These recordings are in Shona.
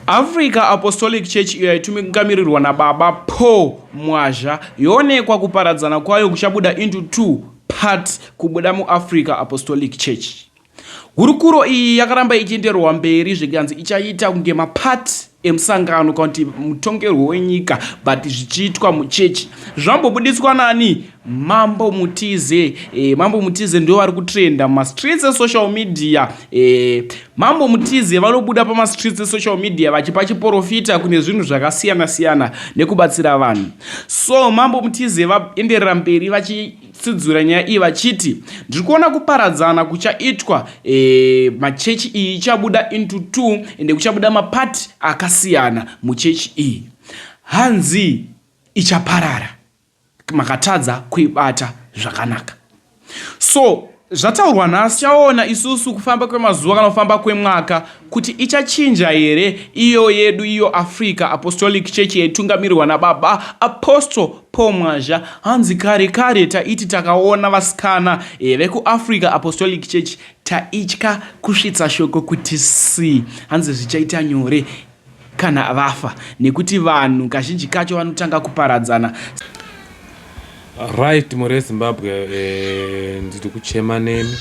Africa Apostolic Church iyo yaitungamirirwa naBaba Paul Mwazha yoonekwa kuparadzana kwayo kuchabuda into two parts kubuda muAfrica Apostolic Church. Hurukuro iyi yakaramba ichienderwa mberi zvikanzi ichaita kunge mapart emusangano kana kuti mutongerwo wenyika but zvichiitwa muchechi. Zvambobuditswa nani? Mambo Mutize eh, Mambo Mutize ndiwo vari kutrenda mumastreets esocial media eh, Mambo Mutize vanobuda pamastreets esocial media vachipa chiporofita kune zvinhu zvakasiyana siyana nekubatsira vanhu so Mambo Mutize vaenderera mberi vachitsidzura nyaya iyi vachiti ndiri kuona kuparadzana kuchaitwa eh, machechi iyi ichabuda into two ende kuchabuda mapati akasiyana muchechi iyi hanzi ichaparara makatadza kuibata zvakanaka so zvataurwa nhasi chaona isusu kufamba kwemazuva kana kufamba kwemwaka kuti ichachinja here iyo yedu iyo africa apostolic church yaitungamirirwa nababa apostle paul mwazha hanzi kare kare taiti takaona vasikana eh, vekuafrica apostolic church taitya kusvitsa shoko kuti si hanzi zvichaita nyore kana vafa nekuti vanhu kazhinji kacho vanotanga kuparadzana. Right more Zimbabwe eh, ndiri kuchema nemi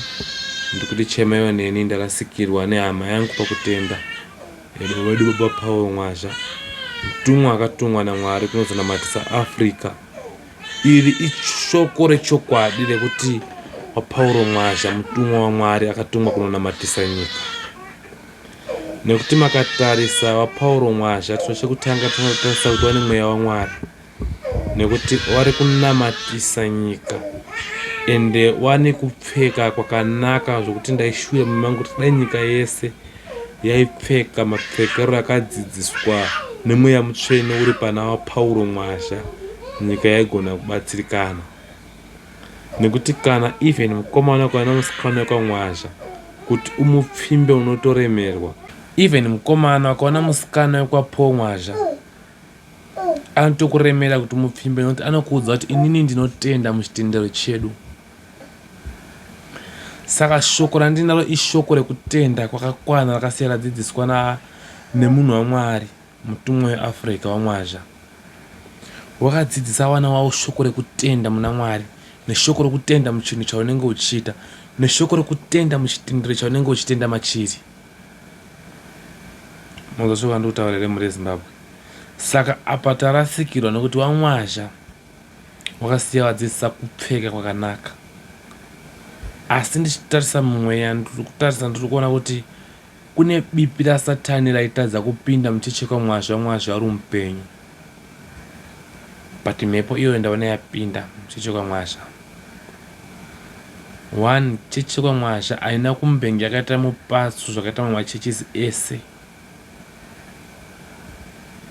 ndiri kuti chemaiwa neni ndarasikirwa nehama yangu pakutenda edo vedu baba Paul Mwazha mutumwa akatumwa naMwari kunozonamatisa Africa iri ishoko rechokwadi rekuti waPauro Mwazha mutumwa waMwari akatumwa kunonamatisa nyika Nekuti makatarisa waPauro Mwazha chiro chekutanga tinotarisa kuti wane mweya waMwari nekuti wari kunamatisa nyika ende wane kupfeka kwakanaka zvokuti ndaishura mumangu kuti dai nyika yese yaipfeka mapfekero akadzidziswa nemweya mutsvene uri pana waPauro Mwazha nyika yaigona kubatsirikana. Nekuti kana even mukomana ukauya nemusikana wekwaMwazha kuti umupfimbe unotoremerwa. Even mukomana ukaona musikana wekwaPaul Mwazha anotokuremera kuti umupfimbe nekuti anokuudza kuti inini ndinotenda muchitendero chedu. Saka shoko randinaro ishoko rekutenda kwakakwana rakasiya radzidziswa nemunhu waMwari. Mutumwa weAfrica waMwazha wakadzidzisa vana vavo shoko rekutenda muna Mwari neshoko rekutenda muchinhu chaunenge uchiita neshoko rekutenda muchitendero chaunenge uchitenda machiri. Munzwa shoko randiri kutaura here mhuri yeZimbabwe? Saka apa tarasikirwa nekuti waMwazha wakasiya vadzidzisa kupfeka kwakanaka. Asi ndichitarisa mumweya, ndiri kutarisa, ndiri kuona kuti Kune bipi rasatani raitadza kupinda muchichekwa mwazva mwazva uri mupenyu but mhepo iyoyo ndaona yapinda muchichekwa mwazva one chichekwa mwazha haina kumbenge yakaita mupatsu zvakaita mamwe machurches ese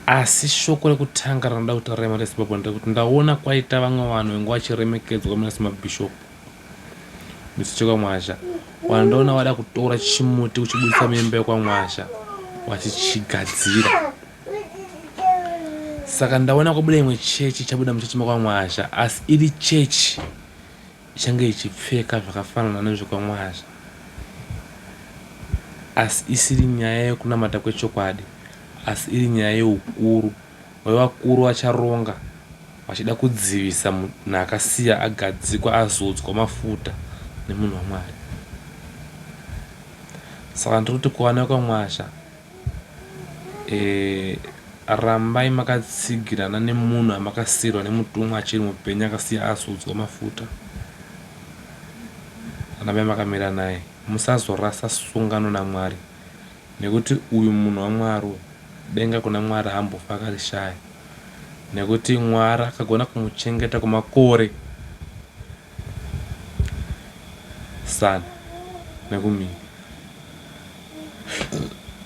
asi shoko rekutanga rinoda kutaura imari yezimbabwe ndrekuti ndaona kwaita vamwe vanhu venge vachiremekedzwa muna semabhishopu Misi chekwaMwazha wandoona wada kutora chimuti uchibudisa mimba yekwaMwazha wachichigadzira saka ndaona kwabuda imwe chechi chabuda muchechi mekwaMwazha asi iri chechi ichange ichipfeka zvakafanana nezvekwaMwazha asi isiri nyaya yekunamata kwechokwadi asi iri nyaya yeukuru wevakuru vacharonga vachida kudzivisa munhu akasiya agadzikwa azodzwa mafuta nemunhu waMwari. Saka ndiri kuti kuvana vekwaMwasha, e, rambai makatsigirana nemunhu amakasiirwa nemutumwa achiri mupenyu akasiya azodzwa mafuta. Rambai makamira naye, musazorasa sungano naMwari Nekuti uyu munhu waMwari uyu denga kuna Mwari haambofi akarishaya nekuti Mwari akagona kumuchengeta kwemakore zana nekumira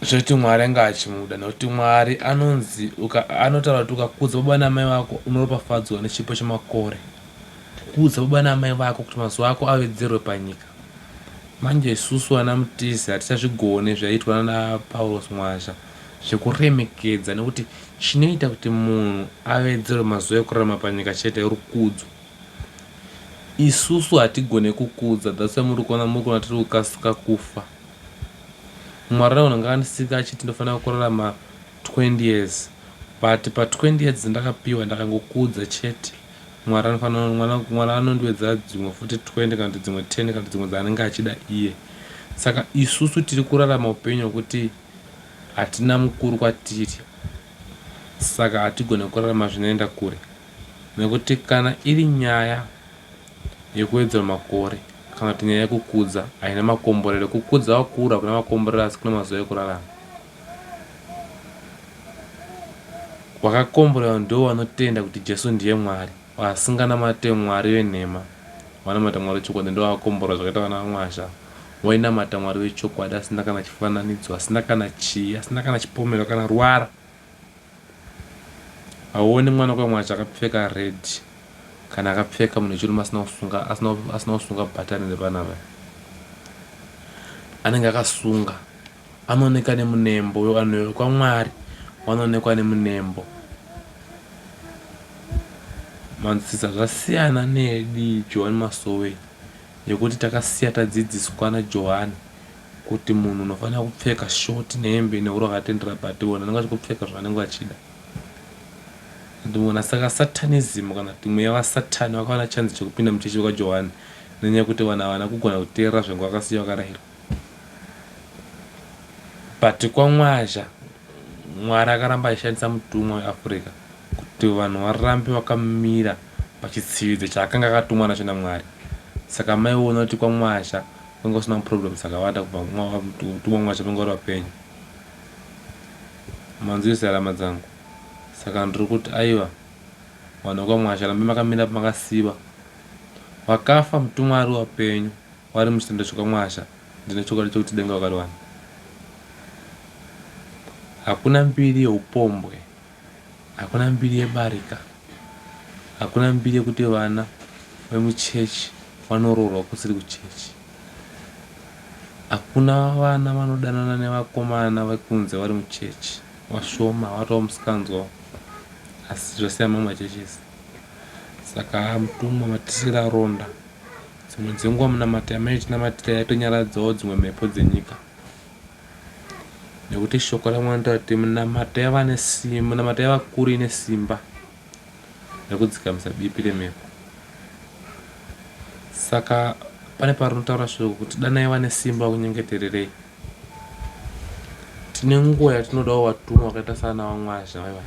zvekuti Mwari anga achimuda nekuti Mwari anonzi anotaura kuti ukakudza baba namai vako unoropafadzwa nechipo chemakore kudza baba namai vako kuti mazuva ako avedzerwe panyika Manje isusu vana mutize hatichazvigone zvaiitwa nana Paulos Mwazha zvekuremekedza nekuti chinoita kuti munhu avedzerwe mazuva ekurarama panyika chete rukudzo. Isusu hatigone kukudza that's why muri kuona muri kuona tiri kukasika kufa. Mwari anogona ngaandisika achiti ndofanira kurarama 20 years but pa 20 years ndakapiwa ndakangokudza chete. Mwari anofanira mwana mwari anondiwedzera dzimwe futi 20 kana kuti dzimwe 10 kana kuti dzimwe dzaanenge achida iye saka isusu tiri kurarama upenyu hwekuti hatina mukuru kwatiri saka hatigone kurarama zvinoenda kure nekuti kana iri nyaya yekuwedzera makore kana kuti nyaya yekukudza haina makomborero kukudza wakura kuna makomborero asi kuna mazuva ekurarama Vakakomborerwa ndivo vanotenda kuti Jesu ndiye Mwari. Vasinganamate Mwari venhema, vanamata Mwari wechokwadi ndivo vakakomborerwa zvakaita vana vaMwazha ava. Wainamata Mwari wechokwadi asina kana chifananidzo, asina kana chii, asina kana chipomero kana ruvara. Hauoni mwana kwaMwazha akapfeka red kana akapfeka munhu wechirume asina kusunga asina kusunga bhatani repanapa. Anenge akasunga Anooneka nemunembo, uyo vanhu vekwaMwari vanoonekwa nemunembo. Manzwisisa zvasiyana neyedi Johani Masowe yekuti takasiya tadzidziswa naJohani kuti munhu unofanira kupfeka short nehembe nehuro akatendera but ivo vanenge vachikupfeka zvavanenge vachida ndimona saka satanism kana kuti mweya vasatani vakawana chanzi chekupinda muchechi vekajohani nenyaya yekuti vanhu havana kugona kuteerera zvengu vakasiya vakarayirwa But kwaMwazha Mwari akaramba achishandisa mutumwa weAfrica kuti vanhu varambe vakamira pachitsividzo chaakanga akatumwa nacho naMwari. Saka maiona kuti kwaMwazha kwanga kusina maproblems akawanda kubva mutumwa waMwazha panga uri vapenyu. Manzwisa rama dzangu. Saka ndiri kuti aiwa vanhu vekwaMwazha rambe makamira makasiva. Vakafa mutumwa ari wapenyu. Wari muchitenda chokwamwasha ndine chokwadi chokuti denga wakariwana. Hakuna mbiri yeupombwe, hakuna mbiri yebarika, hakuna mbiri yekuti vana vemuchechi vanoroorwa kusiri kuchechi. Hakuna vana vanodanana nevakomana vekunze vari muchechi, vashoma, vatova musikanzwa asi zvasiyana mamwe machurches. Saka mutumwa matisira ronda. Dzimwe dzenguva munamati amene tinamatira yatonyaradzawo dzimwe mhepo dzenyika. Nekuti shoko ramwe anotaura kuti munamata yava nesimba, munamata yava kuru ine simba rekudzikamisa bipi remhepo. Saka pane parinotaura shoko kuti dana yava nesimba kunyengetererei. tine nguva yatinodawo vatumwa vakaita sana vamwazha vaiva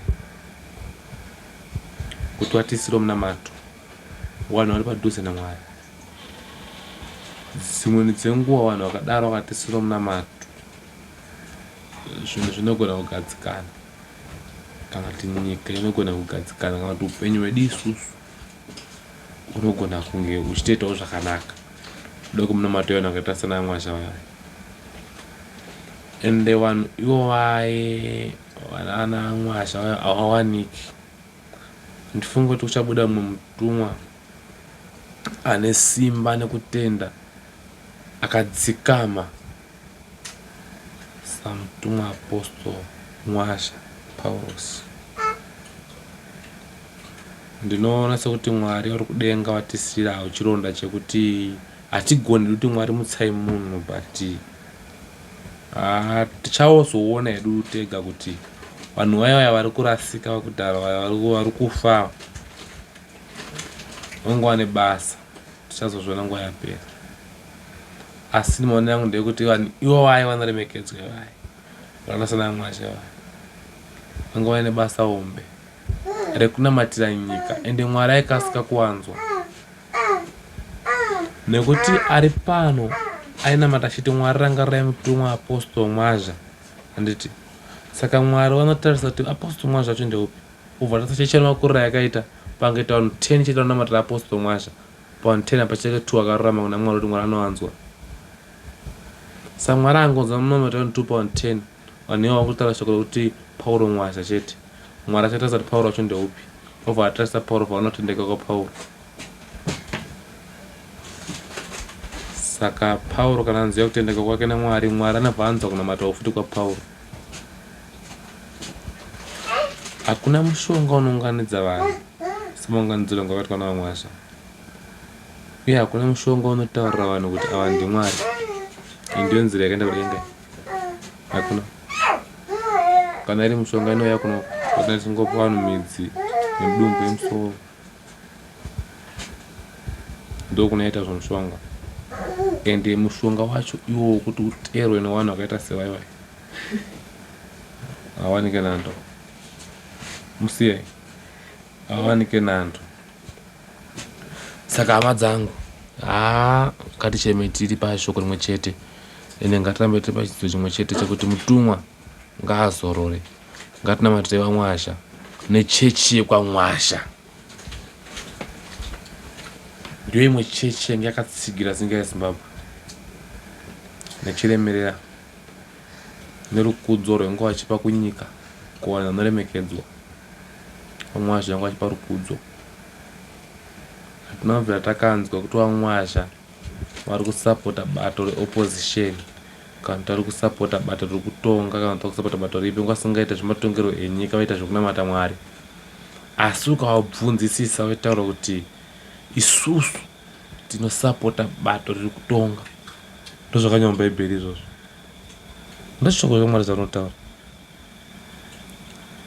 kuti vatiisiro munamato vanhu vari padhuze namwari dzimweni dzenguva vanhu vakadaro vakatisiro munamato zvinhu zvinogona kugadzikana kana kuti nyika inogona kugadzikana kana kuti upenyu hwedu isusu unogona kunge uchitoitawo zvakanaka doko muno matoyona akaita sana mwasha vaya and the one ivo vaye vana mwasha vaya hawawaniki ndifunge kuti kuchabuda mumwe mutumwa ane simba nekutenda akadzikama Samutumwa Apostle Mwasha Paurosi. Ndinoona sekuti Mwari vari kudenga vatisirawo chironda chekuti hatigoni kuti Mwari mutsai munhu but ah, tichaozoona hedu tega kuti vanhu vaya vaya vari kurasika vakudhara vaya vari kufa vangowane basa. Tichazozviona nguva yapera. Asi maonero angu ndeyekuti vanhu ivo vaye vanoremekedzwa ivaye. Vakaita sana Mwashe vaye. Vanga vaine basa hombe rekunamatira nyika ende Mwari aikasika kuwanzwa. Nekuti ari pano ainamata achiti Mwari rangarirai mutumwa Apostle Mwazha. Handiti? Saka Mwari vanotarisa kuti Apostle Mwazha acho ndeupi? Kubva Nhasi Chechi Yemakurira Yakaita Pange Taunhu 10 Chete Anonamatira Apostle Mwasha Paunhu 10 Apa Chete 2 Akarurama Kuna Mwari Kuti Mwari Anowanzwa Sa Mwari Angonzwa Munomi Taunhu 2 Paunhu 10 Vanhu Iwawa Vakutara Shoko Rekuti Pauro Mwasha Chete Mwari Achatarisa Kuti Pauro Wacho Ndeupi Vobva Vatarisa Pauro Vaona Kutendeka Kwa Pauro Saka Pauro Kana Anzwa Kutendeka Kwake Na Mwari Mwari Anobva Anzwa Kunamata Ufuti Kwa Pauro Hakuna mushonga unounganidza vanhu semaunganidziro angavaitwa naVaMwasha. Uye hakuna mushonga unotaurira vanhu kuti ava ndiMwari. Iyi ndiyo nzira yakaenda kudenga. Hakuna. Kana iri mushonga inouya kuno kana tichingopa vanhu midzi nemudumbu yemusoro. Ndokunoita zvomushonga. Ende mushonga wacho iwo wokuti uteerwe nevanhu vakaita sevaiwai. Hawanike nando. Musiyai. Hawanike nando. Saka hama dzangu. Ah, ngaticheme tiri pashoko rimwe chete. Ende ngatirambe tiri pachidzidzo chimwe chete chekuti mutumwa ngaazorore. Ngatinamatire vamwasha nechechi yekwamwasha. Ndiyo imwe chechi yange yakatsigira zinga yeZimbabwe. Nechiremerera. Nerukudzo rwengu achipa kunyika kuvanhu vanoremekedzwa. Vamwazha vangu achipa rukudzo. Hatina kubvira takanzwa kuti vamwazha vari kusapota bato reopposition kana kuti vari kusapota bato riri kutonga kana kuti vari kusapota bato ripi nguva singaita zvematongerwo enyika vaita zvekunamata mwari asi ukavabvunzisisa vaitaura kuti isusu Tinosapota bato riri kutonga. Ndozvakanyorwa muBhaibheri izvozvo. Ndoshoko reMwari zvarinotaura.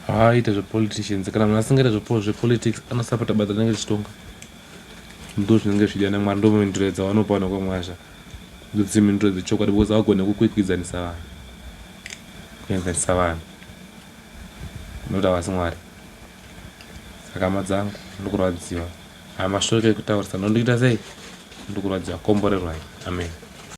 Haaite zvepoliticians. Kana munhu asingaite zvepolitics anosapota bato rinenge richitonga. Ndo zvinenge zvichida naMwari. Ndo mhinduro dzavanopa vanhu kwamwazha. Ndodzi mhinduro dzechokwadi because havagone kukwikwidzanisa vanhu. Kuenzanisa vanhu. Nekuti havasi Mwari. Saka hama dzangu, ndokurwadziwa. Haa mashoko ekutaurisa ndondiita sei ndikuratidza komborerwai amen.